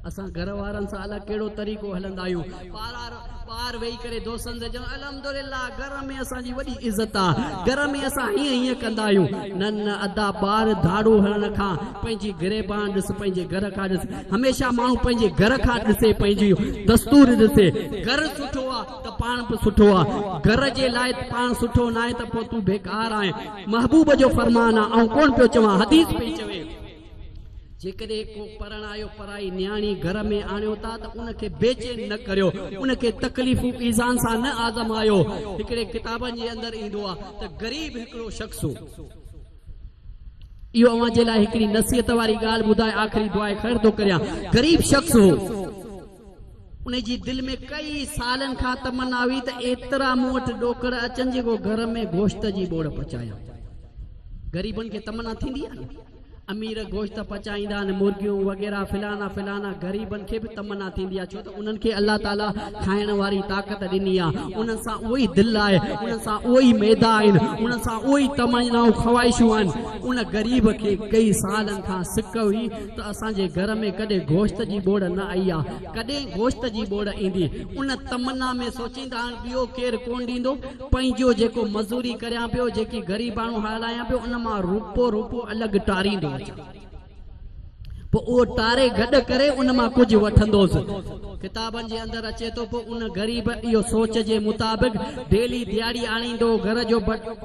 اسان گهر وارن سان الاء ڪهڙو طريقو هلندا آهيون. پار پار ويهي ڪري دوستن سان چوڻ الحمدلله گهر ۾ اسان جي وڏي عزت آ گهر ۾ اسان هيئن هيئن ڪندا آهيون نه نه ادا ٻاهر ڌاڙو هڻڻ کان پنهنجي گريبان ڏس پنهنجي گهر کان ڏس هميشه ماڻهو پنهنجي گهر کان ڏسي پنهنجي دستور ڏسي گهر سٺو آ ته پاڻ به سٺو آ گهر جي لاء پاڻ سٺو ناهي ته پوء تون بيڪار آهين محبوب جو فرمان آ آئون ڪونه پيو چوان حديث پئي چوي. جيڪڏهن ڪو پرڻايو پرائي نياڻي گهر ۾ آڻيو ٿا ته ان کي بي چين نه ڪريو، ان کي تڪليفون ايذان سان نه آزمايو. هڪڙي ڪتابن جي اندر ايندو آهي ته غريب هڪڙو شخص هو. اهو اوهان جي لاء هڪڙي نصيحت واري ڳالهه ٻڌائي آخري دعاء خير ٿو ڪريان. غريب شخص هو. ان جي دل ۾ ڪيئي سالن کان تمنا هئي ته ايترا مون وٽ ڏوڪڙ اچن جيڪو گهر ۾ گوشت جي ٻوڙ پچايان. غريبن کي تمنا ٿيندي آهي نه. امير گوشت پچائيندا آهن مرغيون وغيره فلانا فلانا غريبن کي به تمنا ٿيندي آهي ڇو ته انهن کي الله تعالي کائڻ واري طاقت ڏني آهي انهن سان اهو ئي دل آهي انهن سان اهو ئي معدا آهن انهن سان اهو ئي تمنائون خواهشون آهن ان غريب کي ڪئي سالن کان سڪ هئي ته اسان جي گهر ۾ ڪڏهن گوشت جي ٻوڙ نه آئي آهي ڪڏهن گوشت جي ٻوڙ ايندي ان تمنا ۾ سوچيندا آهن ٻيو ڪير ڪونه ڏيندو پنهنجو جيڪو مزوري ڪريان پيو، جيڪي غريباڻو هالايان پيو، ان مان روپو روپو الڳ ٽاريندو اچان. پوء اهو ٽاري گڏ ڪري ان مان ڪجهه وٺندوس. ڪتابن جي اندر اچي ٿو، پوء ان غريب اهو سوچ جي مطابق ڊيلي ڏيهاڙي آڻيندو هو، گهر جو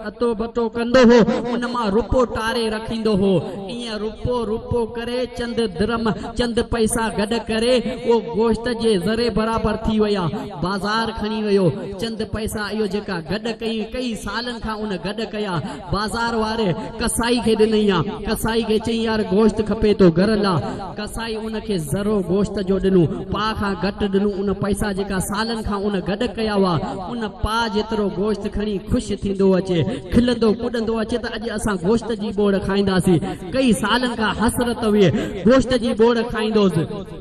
اتو بتو ڪندو هو، ان مان روپو ٽاري رکيندو هو. ائين روپو روپو ڪري چند درم، چند پئسا گڏ ڪري، اهو گوشت جي ذري برابر ٿي ويا. بازار کڻي ويو چند پئسا اهو جيڪا گڏ ڪئين ڪئي سالن کان ان گڏ ڪيا بازار واري قصائي کي ڏنئي ها قصائي کي چئين يار گوشت کپي ٿو گهر لا قصائي ان کي ذرو گوشت جو ڏنو پاء کان گهٽ ڏنو ان پئسا جيڪا سالن کان ان گڏ ڪيا هئا ان پاء جيترو گوشت کڻي خوش ٿيندو اچي کلندو ڪڏندو اچي ته اڄ اسان گوشت جي ٻوڙ کائينداسين ڪئي سالن کان حسرت هئي گوشت جي ٻوڙ کائيندوس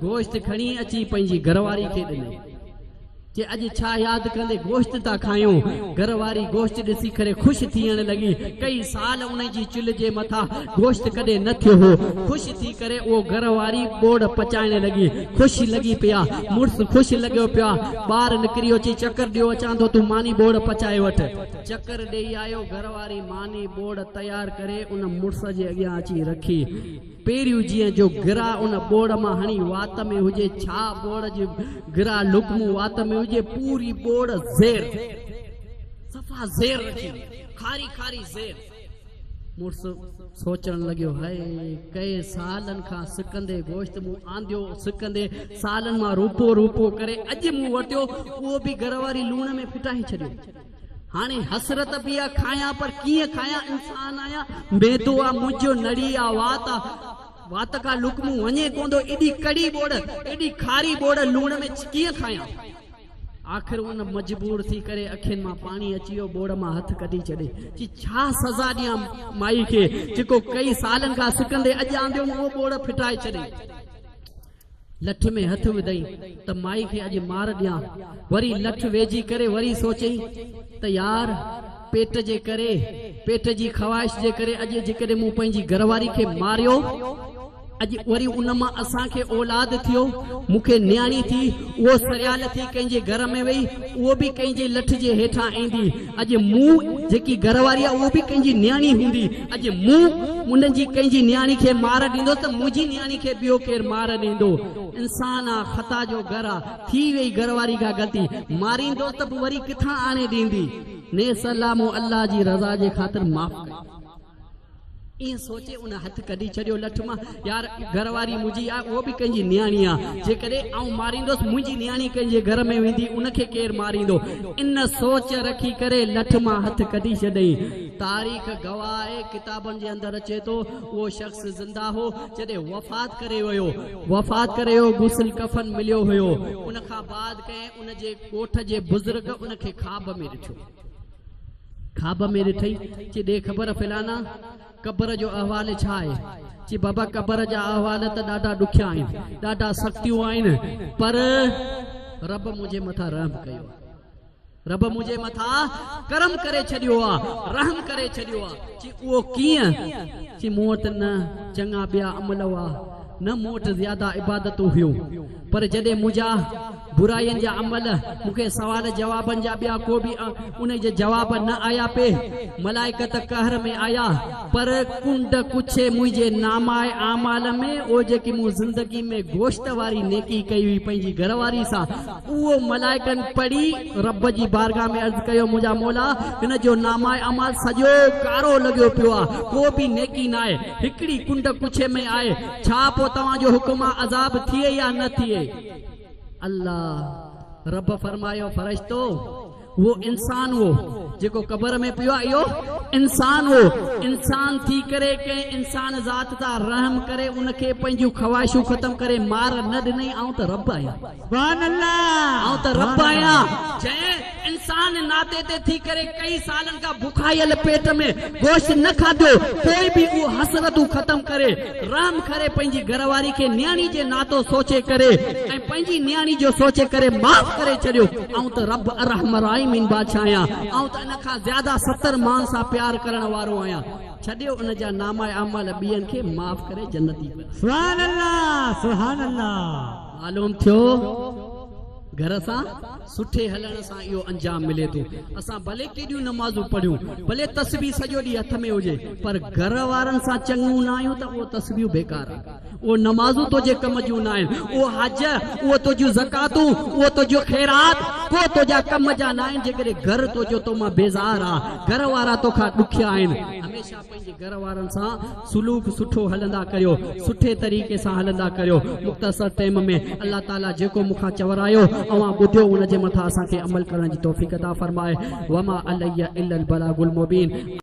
گوشت کڻي اچي پنهنجي گهر واري کي ڏنو. چي اڄ ڇا ياد ڪندي گوشت ٿا کائيون. گهر واري گوشت ڏسي ڪري خوش ٿيڻ لڳي. ڪئي سال انهي جي چلهه جي مٿا گوشت ڪڏهن نه ٿيو هو. خوش ٿي ڪري اهو گهر واري ٻوڙ پچائڻ لڳي. خوش لڳي پئي آ. مڙس خوش لڳيو پيو آ. ٻاهر نڪري اهو چئي چڪر ڏيو اچان ٿو تون ماني ٻوڙ پچائي وٺ. چڪر ڏيئي آيو. گهر واري ماني ٻوڙ تيار ڪري ان مڙس جي اڳيان اچي رکي. پيريون جيئن جو گرا ان ٻوڙ مان هڻي وات ۾ هجي ڇا ٻوڙ جي گرا لقمو وات ۾ هجي پوري ٻوڙ زير صفا زير رکي وئي کاري کاري زير مڙس سوچڻ لڳيو هاء ڪئي سالن کان سڪندي گوشت مون آنديو سڪندي سالن مان روپو روپو ڪري اڄ مون ورتيو اهو به گرا واري لوڻ ۾ ڦٽائي ڇڏيو هاڻي حسرت پئي آ کايان پر ڪيئن کايان انسان آهيان معدو آ منهنجو نڙي آ وات آ وات کان لقمو وڃي ڪوندو ايڏي ڪڙي ٻوڙ ايڏي کاري ٻوڙ لوڻ ۾ ڪيئن کايان آخر ان مجبور ٿي ڪري اکين مان پاڻي اچي ويو ٻوڙ مان هٿ ڪڍي ڇڏي چي ڇا سزا ڏيان مائي کي جيڪو ڪئي سالن کان سڪندي اڄ آنديم اهو ٻوڙ ڦٽائي ڇڏي لٺ ۾ هٿ وڌئي ته مائي کي اڄ مار ڏيان. وري لٺ ويجهي ڪري وري سوچئي ته يار پيٽ جي ڪري، پيٽ جي خواهش جي ڪري اڄ جيڪڏهن مون پنهنجي گهر واري کي ماريو، اڄ وري ان مان اسان کي اولاد ٿيو، مون کي نياڻي ٿي، اهو سريال ٿي ڪنهن جي گهر ۾ ويئي، اهو به ڪنهن جي لٺ جي هيٺان ايندي. اڄ مون جيڪي گهر واري آهي اهو به ڪنهن جي نياڻي هوندي. اڄ مون انهن جي ڪنهن جي نياڻي کي مار ڏيندس ته منهنجي نياڻي کي ٻيو ڪير مار ڏيندو. انسان آ خطا جو گهر آ. ٿي ويئي گهر واري کان غلطي. ماريندوس ته به وري ڪٿان آڻي ڏيندي. نيس الله مون الله جي رضا جي خاطر معاف ڪيو. ائين سوچي ان هٿ ڪڍي ڇڏيو لٺ مان. يار گهر واري منهنجي آهي اهو به ڪنهن جي نياڻي آهي. جيڪڏهن آئون ماريندس منهنجي نياڻي ڪنهن جي گهر ۾ ويندي ان کي ڪير ماريندو. ان سوچ رکي ڪري لٺ مان هٿ ڪڍي ڇڏيائين. تاريخ گواهه آهي ڪتابن جي اندر اچي ٿو اهو شخص زنده هو جڏهن وفات ڪري ويو. وفات ڪري ويو غسل ڪفن مليو هيو. ان کان بعد ڪنهن ان جي ڳوٺ جي بزرگ ان کي خواب ۾ ڏٺو. خواب ۾ ڏٺئي، چي ڏي خبر فلانا، قبر جو احوال ڇا آهي؟ چي بابا قبر جا احوال ته ڏاڍا ڏکيا آهن، ڏاڍا سختيون آهن، پر رب منهنجي مٿان رحم ڪيو آهي. رب منهنجي مٿان ڪرم ڪري ڇڏيو آهي، رحم ڪري ڇڏيو آهي. چي اهو ڪيئن؟ چي مون وٽ نه چڱا ٻيا عمل هئا، نه مون وٽ زياده عبادتون هيون، پر جڏهن منهنجا برائين جا عمل مون کي سوال جوابن جا ٻيا ڪو به انهي جا جواب نه آيا پي ملائڪ ته قهر ۾ آيا پر ڪنڊ ڪڇي منهنجي نامه اعمال ۾ او جيڪي مون زندگي ۾ گوشت واري نيڪي ڪئي هئي پنهنجي گهر واري سان اهو ملائڪن پڙهي رب جي بارگاھ ۾ عرض ڪيو منهنجا مولا هن جو نامه اعمال سڄو ڪارو لڳيو پيو آ ڪو به نيڪي ناهي هڪڙي ڪنڊ ڪڇي ۾ آهي ڇا پوء توهان جو حڪم آ عذاب ٿئي يا نه ٿئي؟ الله رب فرمايو، فرشتو! اهو انسان هو جيڪو قبر ۾ پيو آ اهو انسان هو، انسان ٿي ڪري ڪنهن انسان ذات تان رحم ڪري ان کي پنهنجون خواهشون ختم ڪري مار نه ڏنئي، آئون ته رب آهيان.
آئون ته رب آهيان
جنهن انسان ناتي تي ٿي ڪري ڪئين سالن کان بکايل پيٽ ۾ گوشت نه کاڌو پوء به اهو حسرتون ختم ڪري رحم ڪري پنهنجي گهر واري کي نياڻي جي ناتو سوچي ڪري ۽ پنهنجي نياڻي جو سوچي ڪري معاف ڪري ڇڏيو آئون ته رب ارحم الراحمين بادشاهه آهيان آئون ته ان کان زياده ستر مان سان پيار ڪرڻ وارو آهيان ڇڏيو ان جا نامه اعمال ٻين کي معاف ڪري جنتي بنائي.
معلوم ٿيو
گهر سان سٺي هلڻ سان اهو انجام ملي ٿو اسان ڀلي ڪيڏيون نمازون پڙهيون ڀلي تسبيح سڄو ڏينهن هٿ ۾ هجي پر گهر وارن سان چڱون نه آهيون ته اهو تسبيحون بيڪار اهو نمازون تنهنجي ڪم جون نه آهن اهو حج اهو تنهنجون زڪاتون اهو تنهنجو خيرات ڪو تنهنجا ڪم جا نه آهن جيڪڏهن گهر تنهنجو تو مان بيزار آ گهر وارا توکان ڏکيا آهن هميشه پنهنجي گهر وارن سان سلوڪ سٺو هلندا ڪريو سٺي طريقي سان هلندا ڪريو مختصر ٽيم ۾ الله تعالي جيڪو مون کان چورايو اوهان ٻڌيو ان جي مٿان اسان کي عمل ڪرڻ جي توفيق عطا فرمائي وما علي الا البلاغ المبين.